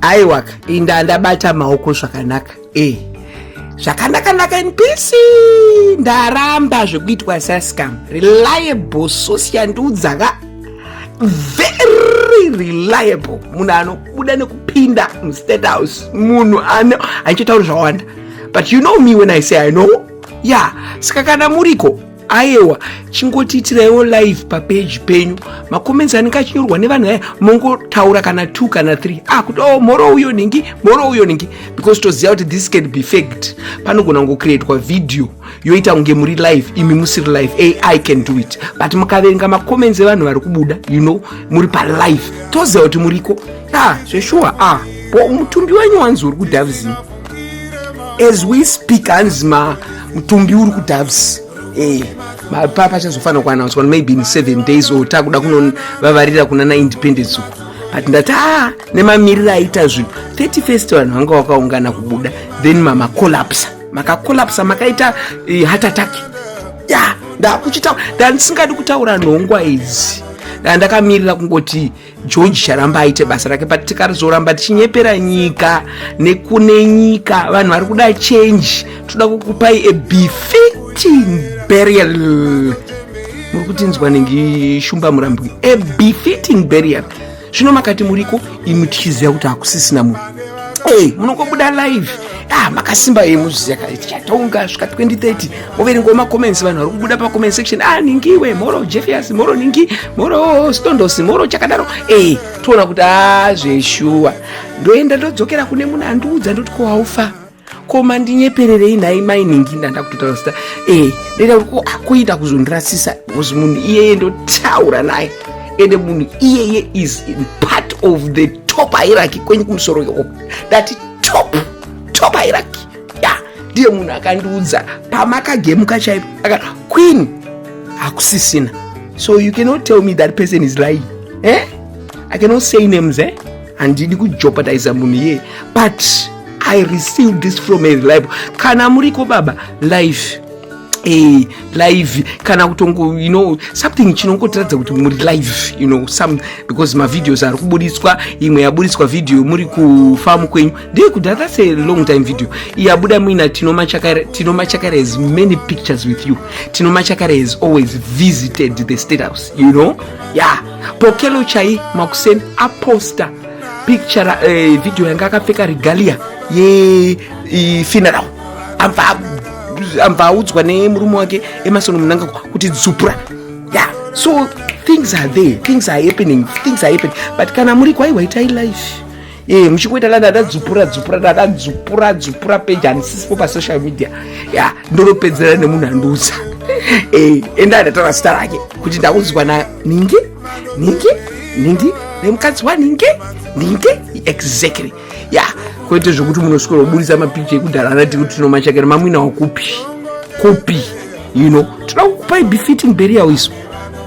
aiwaka inda ndabata maoko zvakanaka e zvakanakanaka in peace ndaramba zvekuitwa sascam reliable sosi yandiudza ka very reliable munhu anobuda nekupinda mustate house munhu ano handichitauri zvawanda but you know me when i say i know ya yeah. saka kana muriko ayewa chingotiitiraiwo live papeji penyu macomments anenge achinyorwa nevanhu aya mongotaura kana two kana three ah kuti oh mhoro uyo ningi mhoro uyo ningi because toziva kuti this can be fact panogona kungocreatwa video yoita kunge muri live imi musiri live ai can do it but mukaverenga macomments evanhu vari kubuda you know muri palive toziva kuti muriko ah zveshuwa ah mutumbi wenyu wanzi uri kudavizini as we speak hanzi ma mutumbi uri kudoves eh, mapapa achazofanira kuanauswa maybe in seven days or takuda kunovavarira kuna na independence uku but ndati a nemamiriro aita zvinhu 30 first vanhu vanga vakaungana kubuda then mamacollapsa makacollapsa makaita eh, heart attack ya yeah, ndakuchitaura ndandisingadi kutaura nhongwa idzi ndandakamirira kungoti george charamba aite basa rake but tikarizoramba tichinyepera nyika nekune nyika vanhu vari kuda change toda kukupai a befitting burial muri kutinzwa nengi shumba murambwi a befitting burial zvino makati muriko imi tichiziva kuti hakusisina munhu ey munongobuda live ah makasimba ye muzviziva kare tichatonga svika 2030 Overenga ma comments vanhu vari kubuda pa comment section ah ningi we moro Jeffias moro ningi moro Stondos moro chakadaro eh toona kuti ah zveshuwa ndoenda ndodzokera kune munhu andiudza ndoti ko haufa ko mandinyepererei nhai mai ningi ndanda kutotaura zita eh ndoita kuti ko akuita ah, kuzondirasisa because munhu iyeye ndotaura naye ende munhu iyeye is part of the top hierarchy kwenyu kumusoro yoko ndati top top hierarchy ya ndiye munhu akandiudza pamakagemuka chaipo akati queen hakusisina so you cannot tell me that person is lying eh? i cannot say names eh? handidi kujopatiza munhu iyeye but i receive this from a reliable kana muriko baba life Hey, eh, live kana kutongo you know something chinongotiratidza kuti muri live you know some because mavideos ari kubuditswa imwe yaburitswa video muri kufamu kwenyu Dei kuda that's a long time video. Iyabuda muina Tino Machakara Tino Machakara has many pictures with you. Tino Machakara has always visited the state house, you know? Yeah. Pokelo chai makusen aposta picture uh, video yanga akapfeka regalia ye uh, funeral. Amva amva audzwa nemurume wake Emerson Mnangagwa kuti dzupura. Yeah. So things are there, things are happening, things are happening. But kana muri kwaiwa itai life. Eh, muchikuita la dada dzupura dzupura dada dzupura dzupura peji handisisipo pasocial media ya ndonopedzera nemunhu andiudza eh, enda ndataura zita rake kuti ndakudzwa na ningi ningi ningi nemukadzi waningi ningi exactly ya kwete zvekuti munoswera kuburitsa mapicha ekudhara anati kuti tinomachakira mamwina wakupi kupi you know toda kukupai befitting burial isu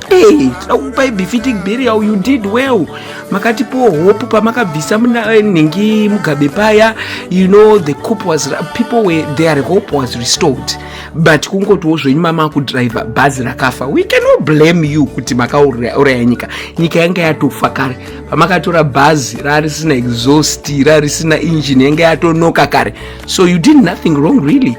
Hey, tinakupai befitting burial you did well makatipowo hope pamakabvisa eh, nhingi mugabe paya you know the coop was people were their hope was restored but kungotiwo zvenyu mama kudriver bhazi rakafa we cannot blame you kuti makauraya nyika nyika yanga yatofa kare pamakatora bhazi rarisina exhaust rarisina engine yanga yatonoka kare so you did nothing wrong really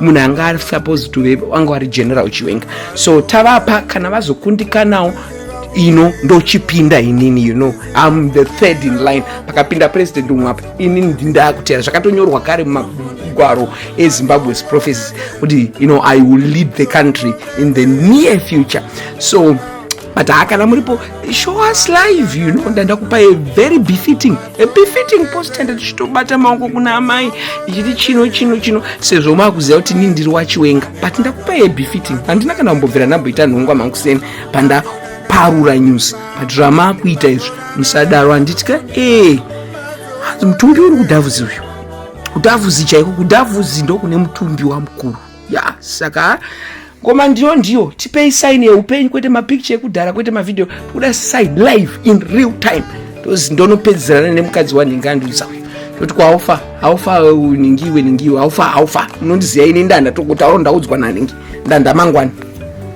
munhu anga ari supposed to be wanga wari general chiwenga so tavapa kana vazokundikanawo ino ndochipinda inini you know am the third in line pakapinda president umwe apa inini ndindakutera zvakatonyorwa kare mumagwaro ezimbabwe's prophecies kuti you know i will lead the country in the near future so but haa kana muripo show us live you know ndandakupa a very befitting a befitting post and tichitobata maoko kuna amai ichiti chino chino chino sezvo maakuziva kuti nii ndiri wachiwenga but ndakupa a befitting handina kana kumbobvira ndamboita nhongwa mankuseni panda parura news but zvamaakuita izvi musadaro handitika ee hanzi mutumbi uri kudhavuzi uyu kudhavuzi chaiko kudhavuzi ndokune mutumbi wamukuru ya saka ngoma ndiyo ndiyo tipei sign yeupenyu kwete mapicture ekudhara kwete mavideo tikuda sign live in real time tozi ndonopedzerana nemukadzi wandingandiudza uyu toti kwaufa aufa ningiwe ningiwe aufa aufa unondiziva ine ndanda tokuti awo ndaudzwa naningi ndanda mangwani